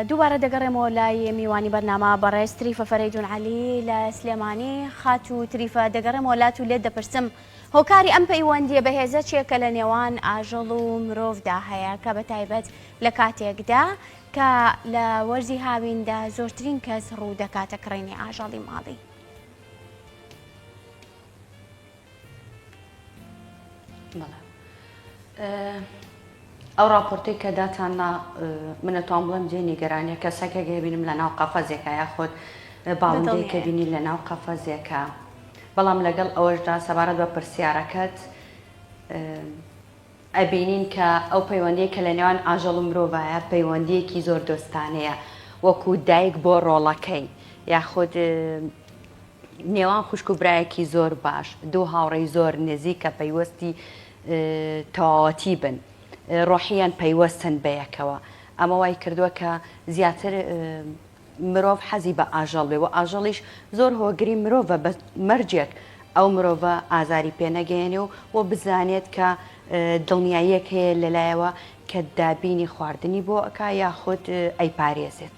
دووبارە دەگەڕێمەوە لای میوانی بەرنامە بەڕێز تریفە فەرەیدون عەلی لە سلێمانی خات و تریفە دەگەڕێمەوە لات و لێت دەپرسم هۆکاری ئەم پەیوەندیە بەهێزە چێکە لە نێوان ئاژەڵ و مرۆڤدا هەیە کە بە تایبەت لە کاتێکدا کە لە وەرزی هاویندا زۆرترین کەس ڕوو دەکاتە کڕینی ئاژەڵی ماڵی. ئەو راپۆرتی کە داتان نا منەتان بڵێم جێ نیگەرانیە کەسەکە گەێبینم لە ناو قەفەزێکە یاخۆت باڵندەی کە بینی لە ناو قەفەزێکە بەڵام لەگەڵ ئەوەشدا سەبارەت بە پرسیارەکەت ئەبینین کە ئەو پەیوەندی کە لە نێوان ئاژەڵ و مرۆڤایە پەیوەندیەکی زۆر دۆستانەیە وەکو دایک بۆ ڕۆڵەکەی یاخود نێوان خوشک و برایەکی زۆر باش، دوو هاوڕێی زۆر نزیک کە پەیوەستی تەواوەتی بن، ڕۆحییەن پەیوەستن بەیەکەوە، ئەمە وای کردووە کە زیاتر مرۆڤ حەزی بە ئاژەڵ بێ و ئاژەڵیش زۆر هۆگری مرۆڤە بە مەرجێک ئەو مرۆڤە ئازاری پێ نەگەیەنێ و و بزانێت کە دڵنیاییەک هەیە لەلایەوە کە دابینی خواردنی بۆ ئەکا یاخود ئەیپارێزێت.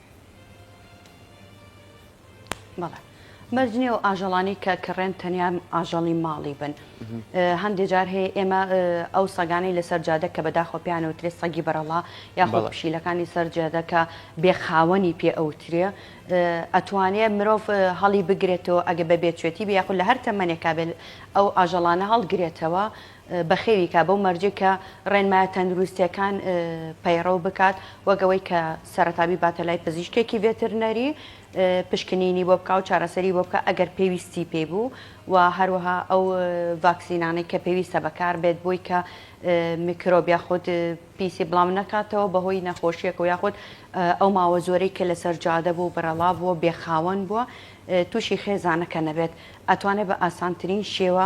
بەڵێ مەرج نییە و ئاژەڵانی کە کڕێن تەنیا ئاژەڵی ماڵی بن هەندێک جار هەیە ئێمە ئەو سەگانەی لەسەر جادە کە بەداخۆ پیان و ترێ سەگی بەرەڵا یاخۆڵ پشیلەکانی سەر جادەکە بێخاوەنی پێ ئەوترێ ئەتوانێت مرۆڤ هەڵی بگرێتەوە ئەگە بە بێچێتی بە یاخود لە هەر تەمەنێکا بێت ئەو ئاژەڵانە هەڵگرێتەوە بەخێوی کا بەو مەرجەی کە ڕێنمایە تەندروستییەکان پەیڕەو بکات وەک ئەوەی کە سەرەتا بیباتە لای پزیشکێکی ڤێترنەری پشکنینی بۆ بکا و چارەسەری بۆ بکە ئەگەر پێویستی پێی بوو و هەروەها ئەو ڤاکسینانەی کە پێویستە بەکار بێت بۆی کە میکرۆب یاخود پیسی بڵاو نەکاتەوە بەهۆی نەخۆشیەکە و یاخود ئەو ماوە زۆرەی کە لەسەر جادە بوو بەرەڵا بووە بێخاوەن بووە تووشی خێزانەکە نەبێت ئەتوانێت بە ئاسانترین شێوە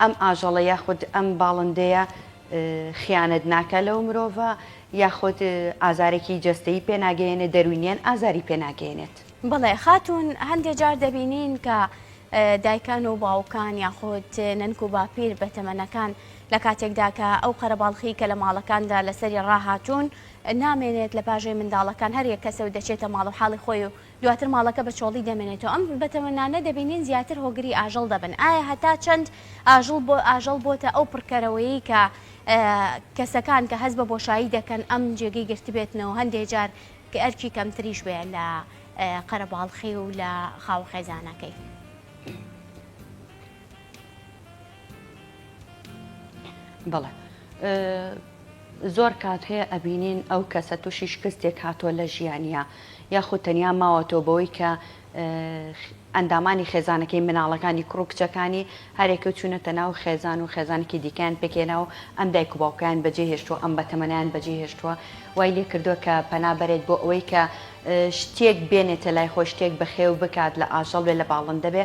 ئەم ئاژەڵە یاخود ئەم باڵندەیە خیانەت ناکا لەو مرۆڤە یاخود ئازارێکی جەستەیی پێ ناگەیەنێت دەروینیان ئازاری پێ ناگەیەنێت. بەڵێ خاتوون هەندێ جار دەبینین کە دایکان و باوکان یاخود نەنک و باپیر بە تەمەنەکان لە کاتێکدا کە ئەو قەرەباڵخی کە لە ماڵەکاندا لەسەری ڕاهاتوون نامێنێت لە پاژێ منداڵەکان هەر یەک کەسە و دەچێتە ماڵ و حاڵی خۆی و دواتر ماڵەکە بە چۆڵی دەمێنێتەوە. ئەم بەتەمەنانە دەبینین زیاتر هۆگری ئاژەڵ دەبن. ئایا هەتا چەند ئاژڵ بۆ ئاژەڵ بۆتە ئەو پڕکەرەوەیەی کە کەسەکان کە هەست بە بۆشایی دەکەن ئەم جێگەی گرتبێتنەوە هەندێ جار کە ئەرکی کەمتریش بێ لە قەرەباڵخی و لە خاوە خێزانەکەی. بەڵێ زۆر کات هەیە ئەبینین ئەو کەسە تووشی شکستێک هاتۆ لە ژیانە یاخود تەنیا ماوەتەوە بەوەی کە ئەندامانی خێزانەکەی مناڵەکانی کوڕ و کچەکانی هەرێکە چوونەتە ناو خێزان و خێزانێکی دیکەیان پێکێنا و ئەم دایک و باوکیان بەجێ هێشتووە ئەم بەتەمەنیان بەجێ هێشتووە وای لێ کردووە کە پەنا بەرێت بۆ ئەوەی کە شتێک بێنێتە لای خۆ شتێک بەخێو بکات لە ئاژەڵ بێ لە باڵندە بێ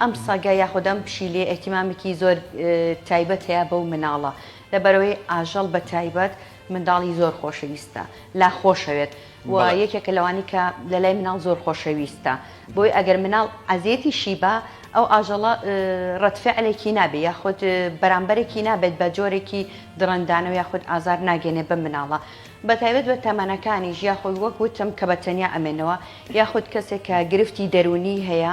ئەم سەگە یاخود ئەم پشیلەیە ئێهتیمامێکی زۆر تایبەت هەیە بەو مناڵە لەبەرئەوەی ئاژەڵ بەتایبەت منداڵی زۆر خۆشەویستە لا خۆشەوێت و یەکێکە لەوانی کە لەلای مناڵ زۆر خۆشەویستە بۆی ئەگەر مناڵ عەزێتی شیبا ئەو ئاژەڵە ڕەتفعلێکی نابێ یاخود بەرامبەرێکی نابێت بە جۆرێکی دڕندانە و یاخود ئازار ناگەێنێ بە مناڵە بەتایبەت بە تەمەنەکانی ژیاخۆی وەک وتم کە بە تەنیا ئەمێنەوە یاخود کەسێک کە گرفتی دەرونی هەیە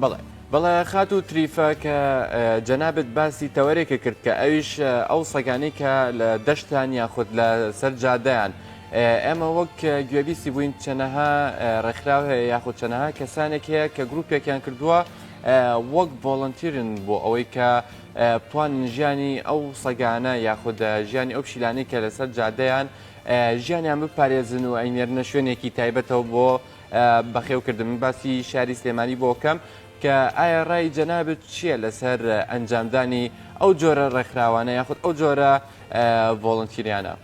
بەڵێ بەڵێ خاتوو تریفە کە جەنابەت باسی تەوەرێکە کرد کە ئەویش ئەو سەگانی کە لە دەشتان یاخود لە سەر جادەیان ئێمە وەک گوێبیسی بووین چەنەها ڕێکخراو هەیە یاخود چەنەها کەسانێک هەیە کە گرروپێکیان کردووە وەک بۆڵنتیرن بۆ ئەوەی کە توان ژیانی ئەو سەگانە یاخود ژیانی ئەو پشیلانی کە لەسەر جادەیان ژیانیان بپارێزن و ئەینێرنە شوێنێکی تایبەتەوە بۆ بەخێو کردم من باسی شاری سلێمانی بۆ کەم کە ئایا ڕای جەنابت چییە لەسەر ئەنجامدانی ئەو جۆرە ڕێکخراوانە یاخود ئەو جۆرە ڤۆڵنتیریانە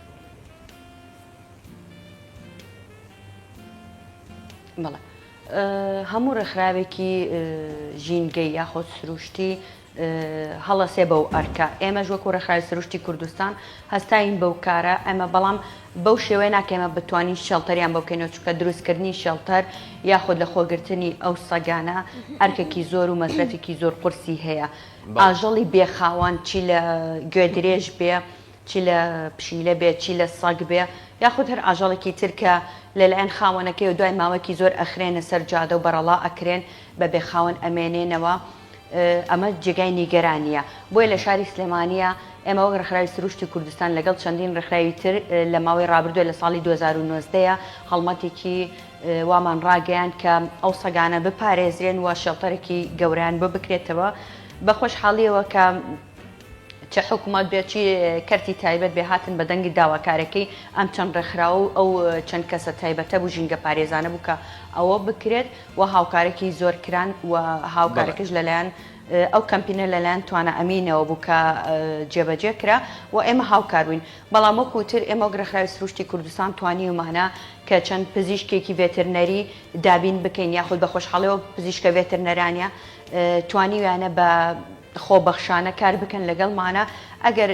بڵێ هەموو ڕێکخراوێکی ژینگەی یاخۆ سروشتی هەڵەسێ بەو ئەرکە. ئێمەش وەکو ڕێکخراوی سروشتی کوردستان هەستاوین بەو کارە، ئەمە بەڵام بەو شێوەیە ناکە ئێمە بتوانین شێڵتەریان بۆ بکەینەوە، چونکە دروستکردنی شێڵتەر یاخود لە خۆگرتنی ئەو سەگانە ئەرکێکی زۆر و مەسرەفێکی زۆر قورسی هەیە. ئاژەڵی بێ خاوەن چی لە گوێدرێژ بێ، چی لە پشیلە بێ، چی لە سەگ بێ، یاخود هەر ئاژەڵێکی تر کە لەلایەن خاوەنەکەیەوە دوای ماوەیەکی زۆر ئەخرێنە سەر جادە و بەرەڵا ئەکرێن، بە بێ خاوەن ئەمێنێنەوە. ئەمە جێگای نیگەرانییە، بۆیە لە شاری سلێمانییە ئێمە وەک ڕێکخراوی سروشتی کوردستان لەگەڵ چەندین ڕێکخراوی تر لە ماوەی ڕابردووە لە ساڵی دوو هەزار و نۆزدە ەیە هەڵمەتێکی وامان ڕاگەیاند کە ئەو سەگانە بپارێزرێن و شێڵتەرێکی گەورەیان بۆ بکرێتەوە بە خۆشحاڵییەوە کە چ حکوومەت بێت چی کەرتی تایبەت بێ هاتن بە دەنگی داواکارەکەی ئەم چەند ڕێکخراوە و ئەو چەند کەسە تایبەتە بوو ژینگە پارێزانە بوو کە ئەوە بکرێت و هاوکارێکی زۆر کران و هاوکارێکش لەلایەن ئەو کەمپینە لەلایەن توانا ئەمینەوە بوو کە جێبەجێ کرا و ئێمە هاوکاروین بەڵام وەکوتر ئێمە گرەخراوی سروشتی کوردستان توانی ومانە کە چەند پزیشکێکی ڤێترنەری دابین بکەین یاخود بە خۆشحاڵەوە پزیشکە ڤێترنەرانە توانیویانە بە خۆبەخشانە کار بکەن لەگەڵمانە ئەگەر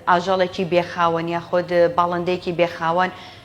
ئاژەڵێکی بێخاوەن یاخود باڵندەیەکی بێخاوەن و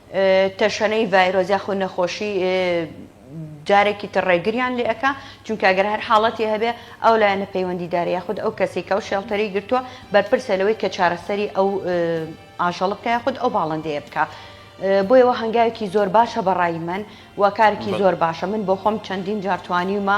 تەشەنەی ڤایرۆس یاخود نەخۆشی جارێکی تر ڕێگریان لێ ئەکا چونکە گەر هەر حاڵەتی هەبێ ئەو لایەنە پەیوەندیدارە یاخود ئەو کەسی کە ئەو شێڵتەری گرتووە بەرپرسە لەوەی کە چارەسەری ئەو ئاژەڵ بکە یاخود ئەو باڵندەیە بکە. بۆیەوە هەنگاوێکی زۆر باشە بەڕای من و کارکی زۆر باشە من بۆ خۆم چەندین جارتوانیمە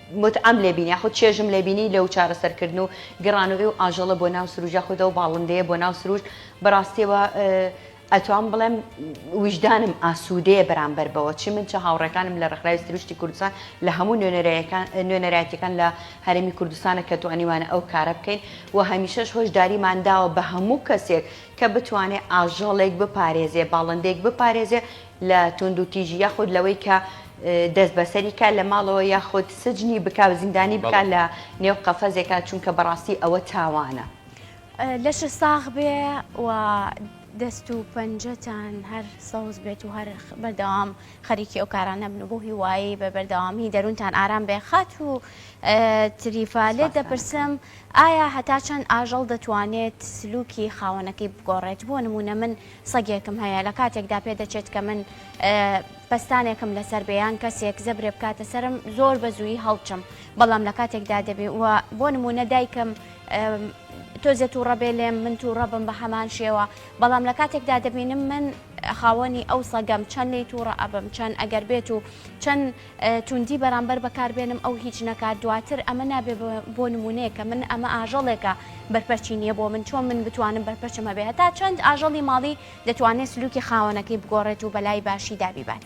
متعەم لێ بینی یاخود چێژم لێ بینی لەو چارەسەر کردن و گڕان و ئیو ئاژەڵە بۆ ناو سروشت یاخود ئەو باڵندەیە بۆ ناو سروشت بەڕاستیەوە ئەتوام بڵێم ویژدانم ئاسوودەیە بەرامبەر بەوە چی من چ هاوڕێکانم لە ڕێکخراوی سروشتی کوردستان لە هەموو نوێنەرایەتەکان لە هەرێمی کوردستانە کە توانیوانە ئەو کارە بکەین و هەمیشەش هۆشداریمان داوە بە هەموو کەسێک کە بتوانێت ئاژەڵێک بپارێزێ باڵندێک بپارێزێ لە توندوتیژی یاخود لەوەی کە دەست بەسەری کا لە ماڵەوە یاخود سجنی بکا و زیندانی بکا لە نێو قەفەزێکا چونکە بەڕاستی ئەوە تاوانە. لەش ساغ بێ و دەست و پەنجەتان هەر سەوز بێت و هەر بەردەوام خەریکی ئەو کارانە بن و بۆ هیوایی بە بەردەوامی دەروونتان ئارام بێ خاتوو تریفا لێت دەپرسم ئایا هەتا چەند ئاژەڵ دەتوانێت سلوکی خاوەنەکەی بگۆڕێت بۆ نموونە من سەگێکم هەیە لە کاتێکدا پێ دەچێت کە من پەستانێکم لەسەر بێیان کەسێک زەبرێ بکاتە سرم زۆر بە زووی هەڵچم بەڵام لە کاتێکدا دەبێ و بۆ نمونە دایکم تۆزێت و ڕەبێ لێم من تو ڕەبم بە هەمان شێوە بەڵام لە کاتێکدا دەبینم من خاوەنی ئەو سەگەم چەند لی تووڕە ئەبم چەند ئەگەر بێت و چەند توندی بەرامبەر بەکار بێنم ئەو هیچ نەکات دواتر ئەمە نابێ بۆ نمونەیەکە من ئەمە ئاژەڵێکە بەرپەرچی نیە بۆ من چۆن من بتوانم بەرپەرچم هەبێ هەتا چەند ئاژەڵی ماڵی دەتوانێت سلوکی خاوەنەکەی بگۆڕێت و بەلای باشی دابیبات.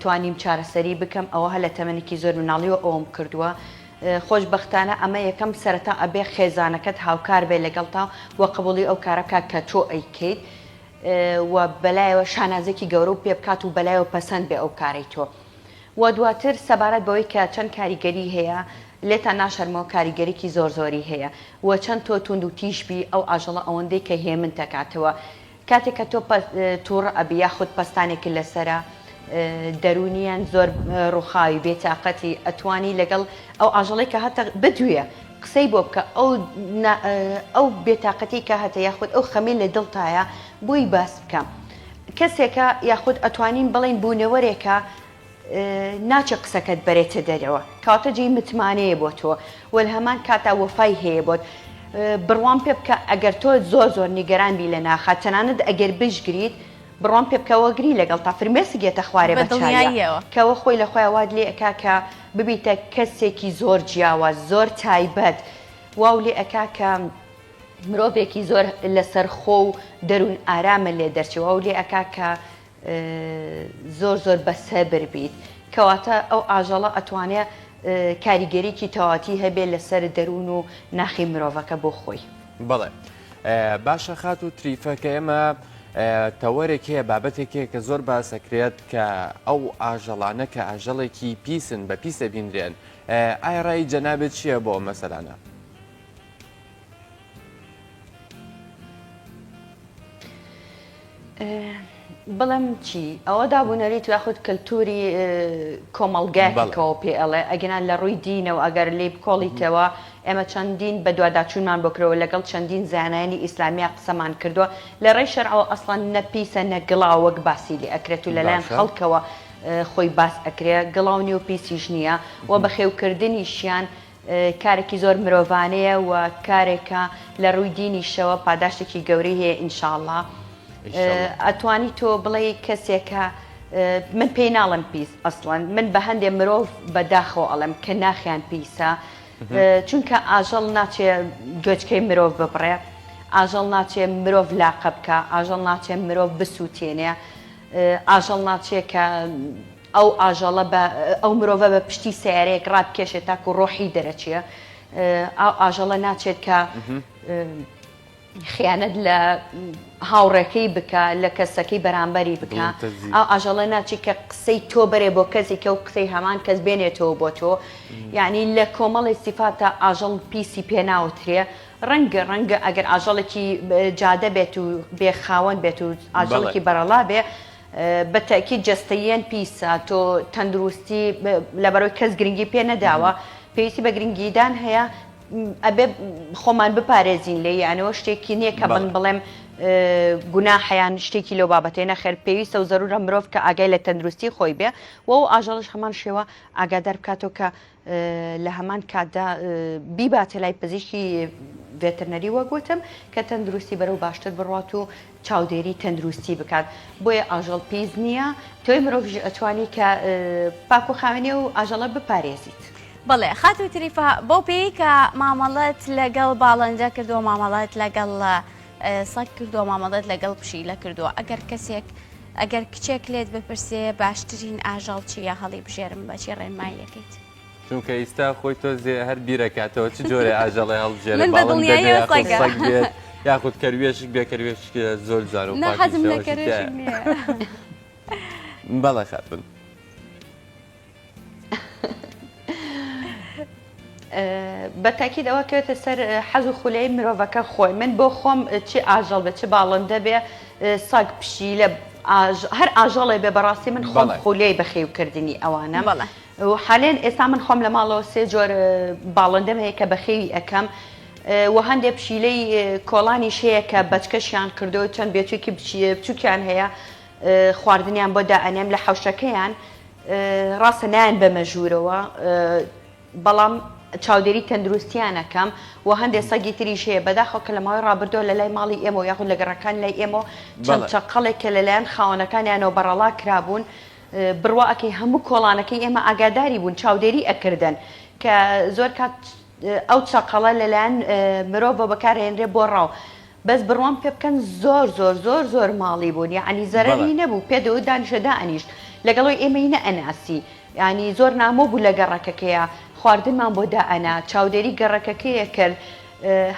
توانیم چارەسەری بکەم ئەوە هەر لە تەمەنێکی زۆر مناڵیوە ئەوەم کردووە خۆش بەختانە ئەمە یەکەم سەرەتا ئەبێ خێزانەکەت هاوکار بێ لەگەڵتا و قبوڵی ئەو کارە بکات کە تۆ ئەیکەیت و بەلایەوە شانازێکی گەورە و پێ بکات و بەلایەوە پەسەند بێ ئەو کارەی تۆ و دواتر سەبارەت بەوەی کە چەند کاریگەری هەیە لێتان ناشەرمەوە کاریگەریکی زۆر زۆری هەیە و چەند تۆ توند و تیژ بی ئەو ئاژەڵە ئەوەندەی کە هێمن تەکاتەوە کاتێک کە تۆ توڕ ئەبی یاخود پەستانێکت لەسەرە دەرونیان زۆر ڕوخاوی بێتاقەتی ئەتوانی لەگەڵ ئەو ئاژەڵی کە هەتە بدوێ قسەی بۆ بکە ئەو ئەو بێتاقەتی کە هەتە یاخود ئەو خەمی لە دڵتایە بۆی باس بکە کەسێکە یاخود ئەتوانین بڵین بوونەوەرێکە ناچێ قسەکەت بەرێتە دەرەوە کەواتە جێی متمانەیە بۆ تۆ وە لە هەمان کاتا وەفای هەیە بۆت بڕوام پێ بکە ئەگەر تۆ زۆر زۆر نیگەران بی لە ناخە تەنانەت ئەگەر بشگریت بڕۆم پێ بکەوە گری لەگەڵ تا فرمێسک یەتە خوارێ بە دڵنیاییەوە کەوە خۆی لە خۆیان وات لێ ئەکا کە ببیتە کەسێکی زۆر جیاواز زۆر تایبەت واو لێ ئەکا کە مرۆڤێکی زۆر لەسەر خۆ و دەروون ئارامە لێ دەرچی واو لێ ئەکا کە زۆر زۆر بە سەبر بیت کەواتە ئەو ئاژەڵە ئەتوانێ کاریگەریکی تەواتی هەبێت لەسەر دەروون و ناخی مرۆڤەکە بۆ خۆی بڵێ باشە خات و تریفە کە ئێمە تەوەرێک هەیە بابەتێکێک کە زۆر باسەکرێت کە ئەو ئاژەڵانە کە ئاژەڵێکی پیسن بە پیسە بیندرێن ئایا ڕای جەنابێت چییە بۆ مەسەلانە بڵێم چی ئەوە دابوونەریت یاخود کەلتوری کۆمەڵگایکەوە پێ ئەڵێ ئەگەنان لە ڕووی دینەوە ئەگەر لی بکۆڵیتەوە ئێمە چەندین بەدوواداچوونمان بکرەوە لەگەڵ چەندین زانایانی ئیسلامیا قسەمان کردووە لە ڕێی شەرەوە ئەسڵەن نەپیسە نەگڵا وەک باسی لێ ئەکرێت و لەلایەن خەڵکەوە خۆی باس ئەکرێ گڵاونی و پیسیش نییە و بەخێوکردنیشیان کارێکی زۆر مرۆڤانەیە و کارێکە لە ڕووی دینیشەوە پاداشتێکی گەورەی هەیە ئینشاءاللە ئەتوانی تۆ بڵێ کەسێکە من پێی ناڵم پیس ئەسڵەن من بە هەندێ مرۆڤ بەداخەوە ئەڵم کە ناخیان پیسە چونکە ئاژەڵ ناچێ گوێچکەی مرۆڤ ببڕێ ئاژەڵ ناچێ مرۆڤ لاقە بکە ئاژەڵ ناچێ مرۆڤ بسووتێنێ ئاژەڵ ناچێ کە ئەو ئاژەڵە بە ئەو مرۆڤە بە پشتی سەیارەیەک ڕابکێشێت تاکو ڕۆحی دەرەچێ ئاو ئاژەڵە ناچێت کە خیانەت لە هاوڕێکەی بکە لە کەسەکەی بەرامبەری بکە ئاو ئاژەڵە ناچی کە قسەی تۆ بەرێ بۆ کەسی کە و قسەی هەمان کەس بێنێتەوە بۆ تۆ یعنی لە کۆمەڵی سیفاتە ئاژەڵ پیسی پێناوترێ ڕەنگە ڕەنگە ئەگەر ئاژەڵێکی جادە بێت و بێ خاوەن بێت و ئاژەڵێکی بەرەڵا بێ بە تەئکید جەستەییەن پیسە تۆ تەندروستی لەبەرەوەی کەس گرنگی پێ نەداوە پێویستی بە گرنگیدان هەیە ئەبێ خۆمان بپارێزین لێ یانەوە شتێکی نییە کە بن بڵێم گونا حیان شتێکی لەو بابەتێ نەخێر پێویستە و زەرورە مرۆڤ کە ئاگای لە تەندروستی خۆی بێ و ئاژەڵش هەمان شێوە ئاگادار بکاتەوە کە لە هەمان کاتدا بیباتە لای پزیشکی ڤێترنەری وەک وتم کە تەندروستی بەرەو باشتر بڕات و چاودێری تەندروستی بکات بۆیە ئاژەڵ پیس نییە تۆی مرۆڤژی ئەتوانی کە پاکو خاوێنێ و ئاژەڵە بپارێزیت. بەڵێ خاتو تریفا بەو پێی کە مامەڵەت لەگەڵ باڵەنجە کردووە مامەڵەت لەگەڵ سەگ کردوە مامەڵەت لەگەڵ پشیلە کردوە ئەگەر کەسێک ئەگەر کچێک لێت بپرسێ باشترین ئاژەڵ چیە هەڵی بژێرم بەچی ڕێنمای یەکەیت چونکە ئیستا خۆی تۆزێ هەر بیرەکاتەوە چ جۆرە ئاژەڵێ هەڵبژێرێت یاخود کەروێشک بێ کەروێش زۆر زار و بەڵێ خاتون بە تاکیید ئەوە کەوێتە سەر حەز و خولەی مرۆڤەکە خۆی من بۆ خۆم چ ئاژەڵ بێ چ باڵندە بێ سەگ پشی لە هەر ئاژەڵێ بێ بەڕاستی من خۆم خولەی بەخێوکردنی ئەوانە بەڵە و حالێن ئێستا من خۆم لە ماڵەوە سێ جۆر باڵندەم هەیە کە بەخێوی ئەەکەم و هەندێک پشیلەی کۆڵانی شەیە کە بەچکەشیان کردو چەند بێچێکی بچووکیان هەیە خواردنیان بۆ دائەنێم لە حەوشەکەیان ڕاستە نایەن بەمە ژوورەوە بەڵام چاودێری تەندروستیانەکەم و هەندێک سەگی تریش هەیە بەداخۆ کە لە ماوەی ڕابردۆ لە لای ماڵی ئێمە و یاخود لە گەڕەکان لای ئێمە چەند چەقەڵێک کە لەلایەن خاوەنەکانیانەوە بەڕەڵا کرابوون بڕواکەی هەموو کۆڵانەکەی ئێمە ئاگاداری بوون چاودێری ئەکردن کە زۆر کات ئەو چەقەڵە لەلایەن مرۆڤەوە بەکارئەهێنرێت بۆ ڕاو بەس بڕوام پێ بکەن زۆر زۆر زۆر زۆر ماڵی بوون یعنی زەرری نەبوو پێ دەوت دانیشە دانیشت لەگەڵەوەی ئێمەی نە ئەناسی ینی زۆر نامۆ بوو لە گەڕەکەکەیە خواردنمان بۆ دائەنا چاودێری گەڕەکەکەیە کرد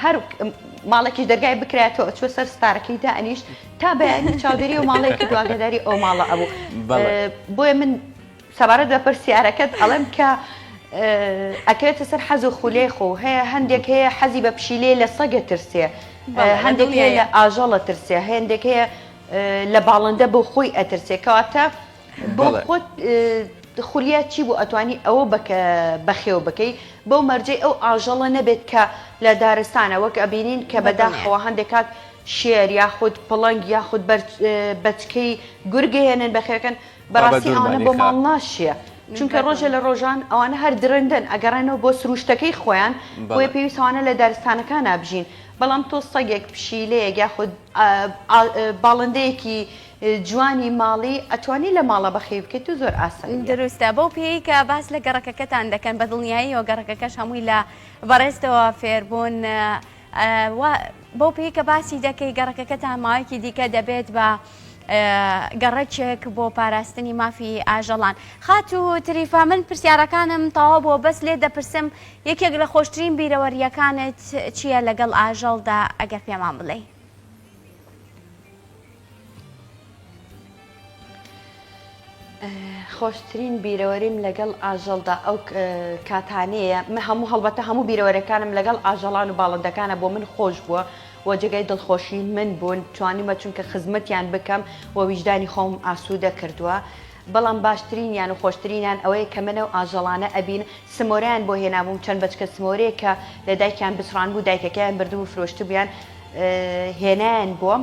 هەر ماڵێکی دەرگای بکرێتەوە ئەچوە سەر ستارەکەی دا ئەنیش تا بەیانی چاودێری و ماڵەیەکی دواگەداری ئەو ماڵە ئەبوو بۆیە من سەبارەت بە پرسیارەکەت ئەڵێم کە ئەکەوێتە سەر حەز و خولەی خۆ هەیە هەندێک هەیە حەزی بە پشیلەیە لە سەگە ترسێ هەندێک هەیە لە ئاژەڵە ترسێ هەندێک هەیە لە باڵندە بۆ خۆی ئەترسێ کەواتە بۆ خۆت خولیا چی بوو ئەتوانی ئەوە بکە بەخێو بکەی بەو مەرجەی ئەو ئاژەڵە نەبێت کە لە دارستانە وەک ئەبینین کە بەداخەوە هەندێک کات شێر یاخود پڵنگ یاخود بەچکەی گورگهێنن بەخێوەکەن بابە بەڕاستی ئەوانە بۆ ماڵ دوورمانیخە. ناشیە چونکە ڕۆژێ لە ڕۆژان ئەوانە هەر درندەن ئەگەڕێنەوە بۆ سروشتەکەی خۆیان بۆیە بەڵێ. پێویست ئەوانە لە دارستانەکانا بژین بەڵام تۆ سەگێک پشیلەیەک یاخود ئا ئا باڵندەیەکی جوانی ماڵی ئەتوانی لە ماڵا بەخێوی بکەیت و زۆر ئاساییە. دروستە بەو پێیەی کە باس لە گەڕەکەکەتان دەکەن بە دڵنیاییەوە گەڕەکەکەش هەمووی لە بەڕێزتەوە فێربوون وا بەو پێی کە باسی دەکەی گەڕەکەکەتان ماوەیەکی دیکە دەبێت بە گەڕەکێک بۆ پاراستنی مافی ئاژەڵان خاتو تریفا من پرسیارەکانم تەوا بۆ بەس لێ دەپرسم یەکێک لە خۆشترین بیرەوەریەکانت چییە لەگەڵ ئاژەڵدا ئەگەر پێمان بڵێ خۆشترین بیرەوەریم لەگەڵ ئاژەڵدا ئەو کاتانەیە من هەموو هەڵبەتە هەموو بیرەوەرەکانم لەگەڵ ئاژەڵان و باڵندەکانە بۆ من خۆش بووە و جێگای دڵخۆشی من بوون توانیمە چونکە خزمەتیان بکەم و ویژدانی خۆم ئاسوودە کردووە بەڵام باشترینیان و خۆشترینیان ئەوەیە کە منە و ئاژەڵانە ئەبین سمۆرەیان بۆ هێنابووم چەند بەچکە سمۆرەیە کە لە دایکیان بچڕان بوو دایکەکەیان بردبوو فرۆشتبیان هێنایان بۆم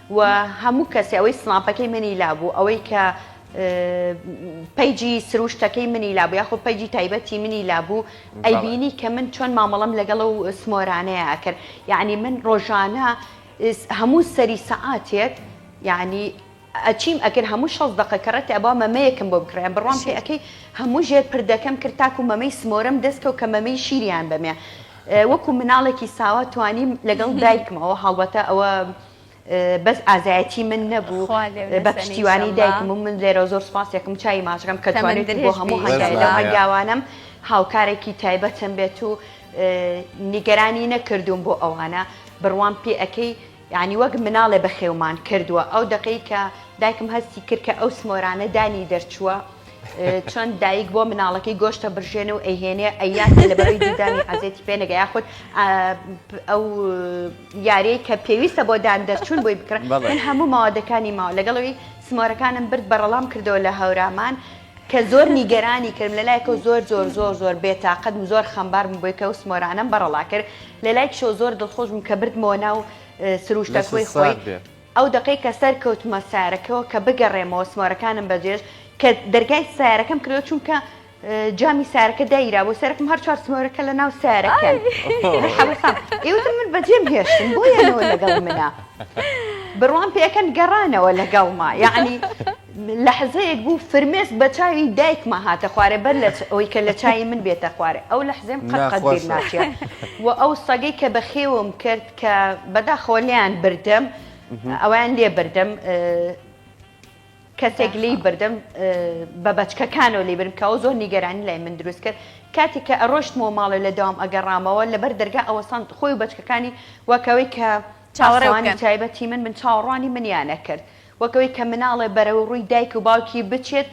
و هەموو کەسێ ئەوەی سناپەکەی منی لابوو ئەوەی کە پەیجی سروشتەکەی منی لابوو یاخۆ پەیجی تایبەتی منی لابوو ئەیبینی کە من چۆن مامەڵم لەگەڵ و سمۆرانەیە ئەکرد یعنی من ڕۆژانە هەموو سەری سەعاتێک یعنی ئەچیم ئەکرد هەموو شەست دقە کەڕێتی ئەبا مەمەیەکم بۆ بکڕێن بڕۆم پێ ئەەکەی هەموو ژێر پردەکەم کرد تاکو مەمەی سمۆرم دەستکەوت کە مەمەی شیریان بەمێ وەکو مناڵێکی ساوا توانیم لەگەڵ دایکمەوە هەڵبەتە ئەوە بەس ئازایەتی من نەبوو بە پشتیوانی دایکم و من لێرە زۆر سپاسێکم چای ماچەکەم کە توانێت بۆ هەموو هەنگاوانم هاوکارێکی تایبەتم بێت و نیگەرانی نەکردووم بۆ ئەوانە بڕوام پێ ئەەکەی یعنی وەک مناڵێ بە خێومان کردووە ئەو دقەی کە دایکم هەستی کرد کە ئەو سمۆرانە دانی دەرچووە چۆن دایک بۆ مناڵەکەی گۆشتە برژێن و ئەهێنێ ئەیات لە بەرەی دیدانی عزێتی پێنەگە یاخود ئەو یاریەی کە پێویستە بۆ دان دەرچوون بۆی بکڕن من هەموو ماوادەکانی ماوە لەگەڵ ئەوی سمۆرەکانم برد بەڕەڵام کردەوە لە هەورامان کە زۆر نیگەرانی کردم لە لایەکەو زۆر زۆر زۆر زۆر بێ تاقەت بووم زۆر خەمبار بووم بۆی کە ئەو سمۆرانەم بەڕەڵا کرد لە لای کشەوە زۆر دڵخۆش بووم کە بردمەوە ناو سروشتە کۆی خۆی ئەو دەقەی کە سەر کەوتمە سارەکەەوە کە بگەڕێمەوە سمۆرەکانم بەجێش کە دەرگای سارەکەم کردەوە چونکە جامی سارەکە دایرا بۆ سەرکم هەر چوار سمۆرەکە لە ناو سارەکەن حەوسام ئێوتم من بەجێم هێشتن بۆ یانەوە لەگەڵ منە بڕوان پێکەن گەڕانەوە لەگەڵما یعنی لە حزەیەک بوو فرمێس بە چاوی دایکمە هاتە خوارێ بەر لە ئەوی کە لە چای من بێتە خوارێ ئەو لە حزێم قەت بیر ناچێت و ئەو سەگەی کە بەخێوم کرد کە بەداخەوە لیان بردم ئەویان لێ بردم کەسێک لێی بردم بە بەچکەکانەوە لێ برم کەەوە زۆر نیگەرانی لای من دروست کرد کاتێک کە ئەڕۆشتمەوە ماڵێ لە داوام ئەگەڕامەوە لەبەر دەرگا ئەوەسان خۆی و بەچکەکانی وەکەوەی کە چاوەڕێوانی تایبەتی من من چاوەڕوانی منیانە کرد وەکەوەی کە مناڵێ بەرەو ڕووی دایک و باوکی بچێت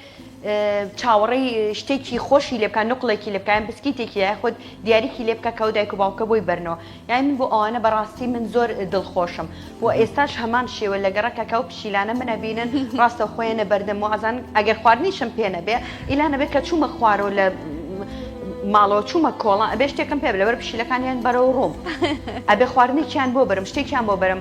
چاوەڕی شتێکی خۆشی لێ بکە نقلێکی لێ بکەن بسکیتێکی یاخود دیارێکی لێ بکە کەەوە دایک و باوکە بۆی بەرنەوە یانی من بۆ ئەوانە بەڕاستی من زۆر دڵخۆشم و ئێستاش هەمان شێوە لە گەڕەکەکە و پشیلانە من ئەبینن ڕاستەوخۆ یەنە بەردەم و ئەزانن ئەگەر خواردنیشم پێ نەبێ ئیلا نەبێ کە چوومە خوارەوە لە ماڵەوە چوومە کۆڵان ئەبێ شتێکم پێ لەبەر پشیلەکانیان بەرەو ڕووم ئەبێ خواردنێکیان بۆ بەرم شتێکیان بۆ بەرم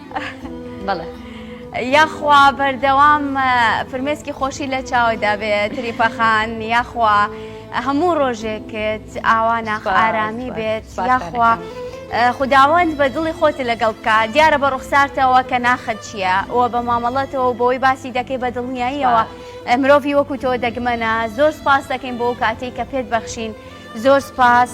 بەڵێ یاخوا بەردەوام فرمێسکی خۆشی لە چاوەدا بێ تریپەخان یاخوا هەموو ڕۆژێکت ئاوا ناخ ئارامی بێت یاخوا. خداوەند بە دڵی خۆتی لەگەڵ بکە دیارە بە ڕوخسارتەوە کە ناخت چییە و بە مامەڵەتەوە بۆی باسی دەکەی بە دڵنیاییەوە مرۆڤی وەکو تۆ دەگمەنە زۆر سپاس دەکەین بۆ کاتێک کە پێت بەخشین زۆر سپاس.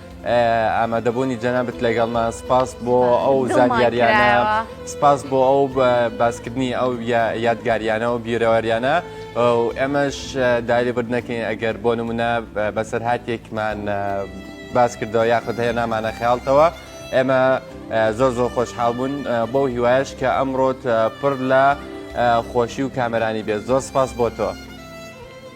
ئامادەبوونی جەنابەت لەگەڵمان سپاس بۆ ئەو زانیاریانە سپاس بۆ ئەو باسکردنی ئەو یادگاریانە و بیرەوەریانە ئەمەش داری بردنەکەین ئەگەر بۆ نمونە بەسەرهاتێکمان باس کردەوە یاخود هەیە نامانە خیاڵتەوە ئێمە زۆر زۆر خۆشحاڵ بوون بەو هیوایش کە ئەمڕۆت پڕ لە خۆشی و کامەرانی بێت زۆر سپاس بۆ تۆ.